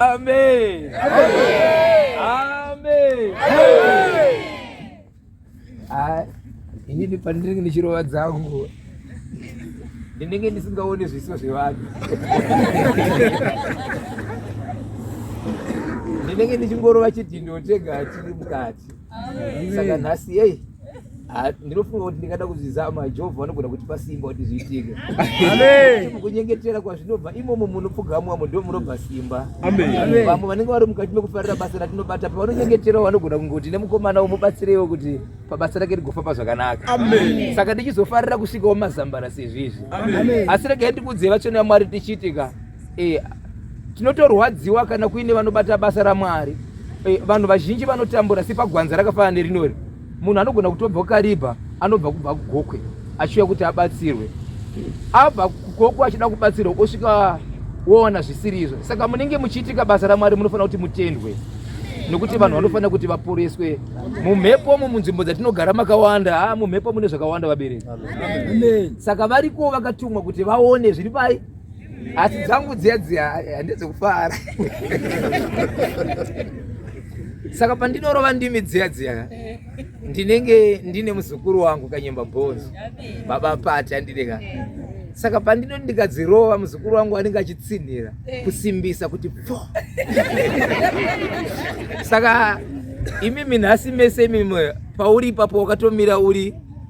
Amen. Amen. Ah, inini pandinenge ndichirova dzangu ndinenge ndisingaoni zviso zvevanhu ndinenge ndichingorova chidhindo chega chiri mukati saka nhasi yei ndinofunga kuti ndingada kuzvizama jehovha vanogona kuti pasimba kuti zviitike kunyengetera kwazvinobva imomo munopfugamwamo ndo munobva simba vamwe vanenge vari mukati mekufarira basa ratinobata pavanonyengetera vanogona kunge kuti nemukomana womubatsireiwo kuti pabasa rake rigofamba zvakanaka saka ndichizofarira kusvikawo mazambara sezvizvi asi regai ndikudzei vatsvene vamwari tichiitika Eh, tinotorwadziwa kana kuine vanobata basa ramwari eh, vanhu vazhinji vanotambura sepagwanza rakafanana nerinori munhu anogona kutobva kukariba anobva kubva kugokwe achiuya kuti abatsirwe abva kugokwe achida kubatsirwa osvika woona zvisiri izvo saka munenge muchiitika basa ramwari munofanira kuti mutendwe nekuti vanhu vanofanira kuti vaporeswe mumhepomo munzvimbo dzatinogara makawanda ha ah, mumhepo mune zvakawanda vabereki saka variko vakatumwa kuti vaone zviri pai asi dzangu dziya dziya handedzekufara saka pandinorova ndimi dziya dziya ndinenge ndine muzukuru wangu kanyemba bhozo baba pati andireka saka pandino ndikadzirova muzukuru wangu anenge achitsinhira kusimbisa kuti pfo saka imimi nhasi mese imimi pauri ipapo wakatomira uri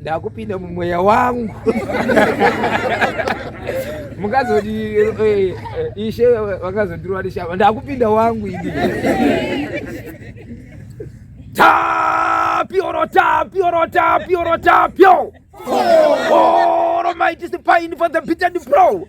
ndakupinda mumweya wangu mukazoti eh, eh, ishe vakazotirwa neshava ndakupinda wangu ini tapio rotapio rotapio rotapio oro maitisi paini for the bitter and pro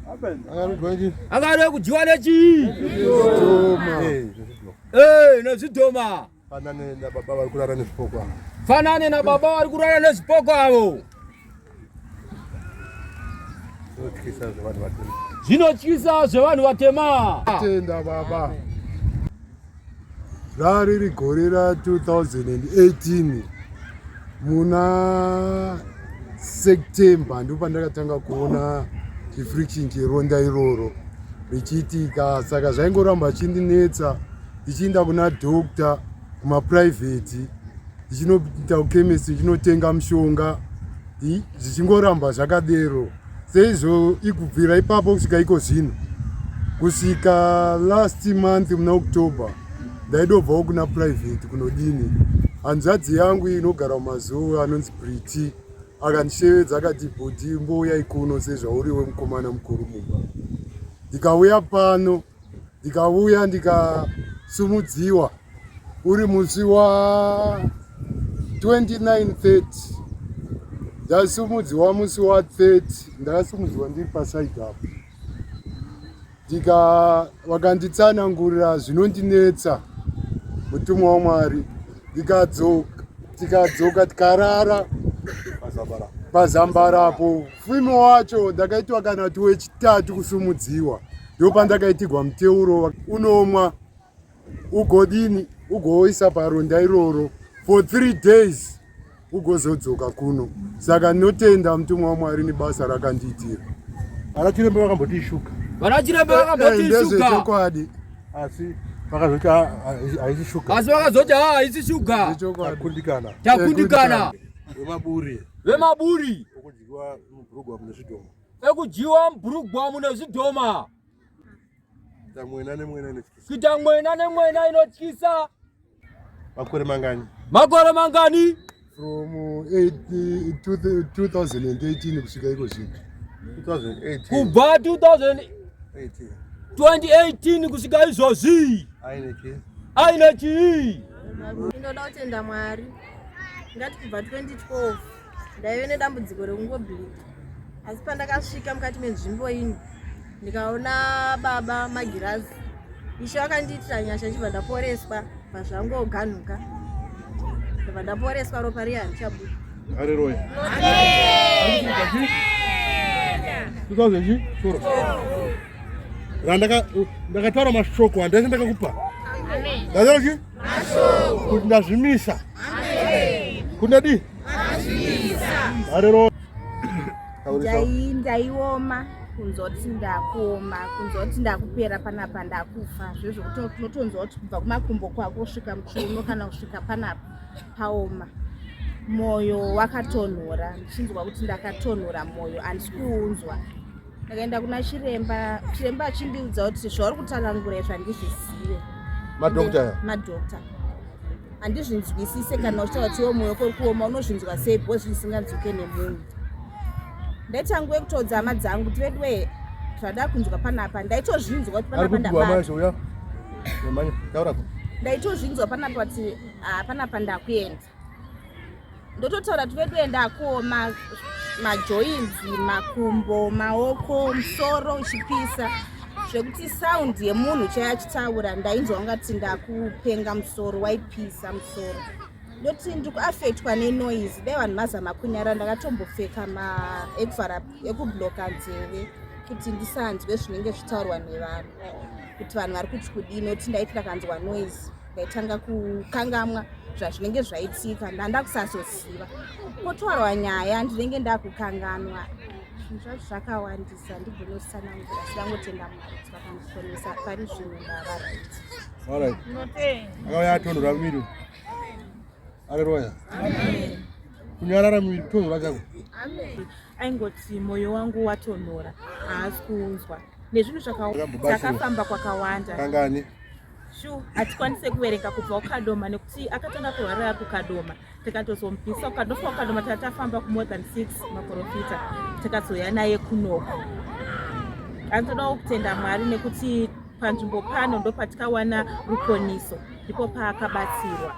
akarwe kudyiwa nechii nezvidhoma fanane na baba vari kurara nezvipoko avo fanane na baba vari kurara nezvipoko avo zvinotyisa zvevanhu vatema tenda baba rariri gore ra 2018 muna september ndipo pandakatanga kuona chifriction cheronda iroro richiitika saka zvaingoramba chindinetsa ndichiinda kuna doctor kumaprivate ndichinoita kuchemist ndichinotenga mushonga zvichingoramba zvakadero seizoikubvira ipapo kusvika iko zvino kusvika last month muna october ndaidobvawo kuna private kunodini hanzvadzi yangu inogara mumazuva anonzi briti akandishevedza akati bhudhi mbouya ikuno sezvauri wemukomana mukuru mumba ndikauya pano ndikauya ndikasumudziwa uri musi wa 2930 ndasumudziwa musi wa 30 ndakasumudziwa ndiri pasaidi apo ndika vakanditsanangurira zvinondinetsa mutumwa wamwari ndikadzoka tikadzoka tikarara pazambarapo fumi wacho ndakaitwa kana tuwechitatu kusumudziwa ndopandakaitigwa muteuro unomwa ugodini ugoisa paronda iroro for three days ugozodzoka kuno saka ndinotenda mutumwa wamwari nebasa rakandiitira vanachirembe vakamboti shuga vanachirembe vakamboti eh, eh, shuga chokwadi asi vakazoti haisi shuga asi vakazoti haa haisi shuga takundikana takundikana vemaburi vemaburi okudzikiwa mubrugwa mune zvidhomo ekudyiwa mubhurugwa mune zvidhoma kuita mwena nemwena inotyisa kuita mwena nemwena inotyisa makore mangani makore mangani from 2018 kusvika iko zvino kubva 2018 kusvika izvozvi aine chii ndinoda kutenda mwari ngati kubva 2012 ndaive nedambudziko rekungobhirika asi pandakasvika mukati menzvimbo ino ndikaona baba magirazi ishe vakandiitira nyasha chibva ndaporeswa pazvangoganuka ndibva ndaporeswa ropa riya richabuda haleluya ndakataura mashoko handaise ndakakupa ndazvimisa kuti ndadii Ndai ndaioma kunzwa kuti ndakuoma kunzwa kuti ndakupera panapa ndakufa zvezvo kuti unotonzwa kuti kubva kumakumbo kwako kusvika muchiuno kana kusvika panapa paoma mwoyo wakatonhora ndichinzwa kuti ndakatonhora mwoyo handisi kuunzwa ndakaenda kuna chiremba chiremba achindiudza kuti zvauri kutsanangura izvo handizvizive madokta madokta handizvinzwisise kana uchitaura kuti iwe mwoyo kuri kuoma unozvinzwa sei bho zvinhu zvisinganzwike nemunhu ndaitanguve kutoudza hama dzangu kuti veduwe zvada kunzwa panapa ndaitozvinzwa kuti panapa ndabaa ndaitozvinzwa panapa kuti ah, panapa ndakuenda ndototaura tove kuenda ko majoinzi makumbo maoko musoro uchipisa zvekuti saundi yemunhu chaiye achitaura ndainzwa ungati ndakupenga musoro waipisa musoro ndoti ndikuafektwa nenoise dai vanhu mazama kunyara ndakatombopfeka maekvara ekubloka nzeve kuti ndisanzwe zvinenge zvitaurwa nevanhu kuti vanhu vari kuti kudii noti ndaiti ndakanzwa noise ndaitanga kukangamwa zvazvinenge zvaitika ndanda kusazoziva kotwarwa nyaya ndinenge ndakukanganwa zvinhu zvacho zvakawandisa ndigone kusanangura asi vangotenda mwari vakandikonesa pari zvinhu ndavaraiti akauya atonhora muviri aleluya kunyarara muviri kutonhora chako aingoti mwoyo wangu watonhora haasi kunzwa nezvinhu zvakafamba kwakawanda kangani shu hatikwanise kuverenga kubva kukadoma nekuti akatanga kurwarira ari kukadoma tikatozomubvisa kukadofika kukadoma taa tafamba kumore than six maprofita tikazouya naye kunoko anotodawo kutenda mwari nekuti panzvimbo pano ndopatikawana rukoniso ndipo paakabatsirwa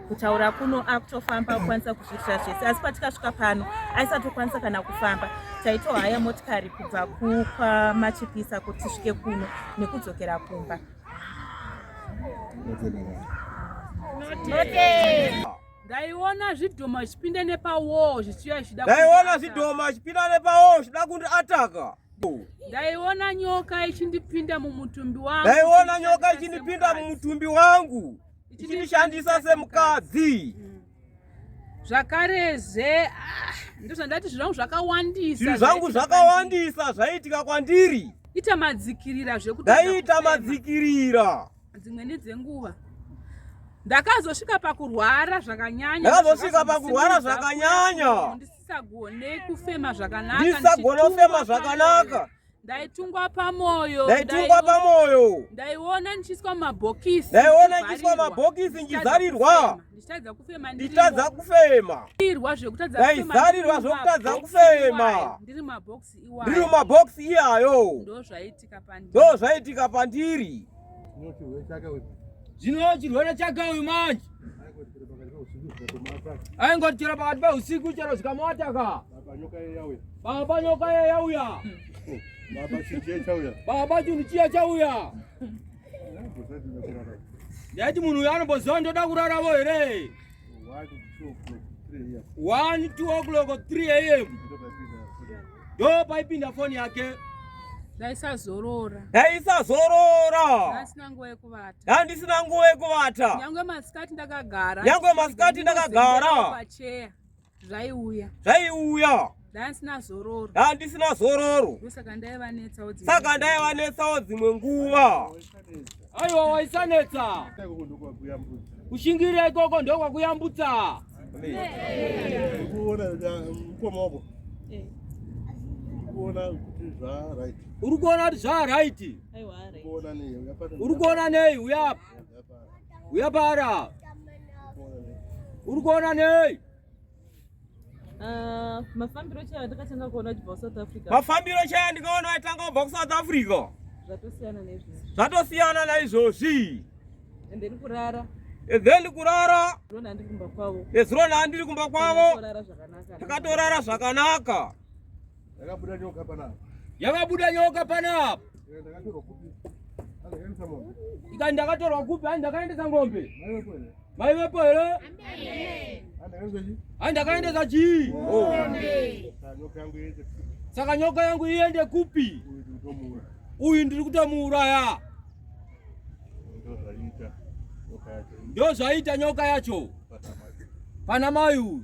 kutaura kuno akutofamba kukwanisa kuzviitira zvese asi patikasvika pano aisatokwanisa kana kufamba taitohaya motikari kubva kukwa machipisa kuti tisvike kuno nekudzokera kumba ndaiona zvidhoma zvichipinda nepawoo zvichiuya zvichida ndaiona zvidhoma zvichipinda nepawoo zvichida kundi ataka ndaiona nyoka ichindipinda mumutumbi wangu ndaiona nyoka ichindipinda mumutumbi wangu ichinishandisa semukadzi mm. zvakarezve ah, ndozvandati zvinhu zvangu zvakawandisa zvinhu zvangu zvakawandisa zvaiitika kwandiri ita madzikirira zvekuti ndaiita madzikirira dzimweni dzenguva ndakazosvika pakurwara zvakanyanya ndakazosvika pakurwara zvakanyanya ndisisagone kufema zvakanaka ndisisagone kufema zvakanaka ndaitungwa pamoyo ndaitungwa pamoyo ndaiona ndichiiswa mumabhokisi ndaiona ndichiiswa mumabhokisi ndichizarirwa ndichitadza kufema ndichitadza kufema irwa zvekutadza ndaizarirwa zvekutadza kufema ndiri mumabhokisi iwayo ndiri mumabhokisi iyayo ndo zvaitika pandiri ndo zvaitika pandiri zvino chirwere chake uyu manje aingotichera pakati peusiku chero zvikamwataka Baba nyoka ye yauya. Baba nyoka ye yauya. Baba chichie chauya. Baba chunhu chiya chauya. Ndati munhu uyo anomboziva ndoda kuraravo here? One two o'clock three a.m. Ndo paipinda foni yake. Ndaisazorora. Ndaisazorora. Ndasina nguva yekuvata. Ndandisina nguva yekuvata. Nyangwe masikati ndakagara. Nyangwe masikati ndakagara. Pacheya. zvaiuya zvaiuya ndandisina zororo ndandisina zororo ndosaka ndaivanetsawo dzimwe saka ndaivanetsawo dzimwe nguva aiwa waisanetsa kushingirira ikoko ndokwakuyambutsa uri kuona kuti zvaa right uri kuona nei uyapa Uya para. Uri kuona nei? Ah, mafambiro chaya ndakatanga kuona achibva kusouth africa mafambiro chaya ndikaona aitanga kubva kusouth africa zvatosiyana naizvozvi zvatosiyana naizvozvi and then kurara and then kurara zirona andiri kumba kwavo zirona andiri kumba kwavo takatorara zvakanaka Yakabuda nyoka panapa. Yakabuda nyoka panapa. Ika ndakatorwa kupi? Ani ndakaendesa ng'ombe. Mai vepo here? Ani ndakaendesa chii? Saka nyoka yangu iende kupi? Uyu ndiri kutomuuraya. Ndio zvaita nyoka yacho. Pana mai uyu.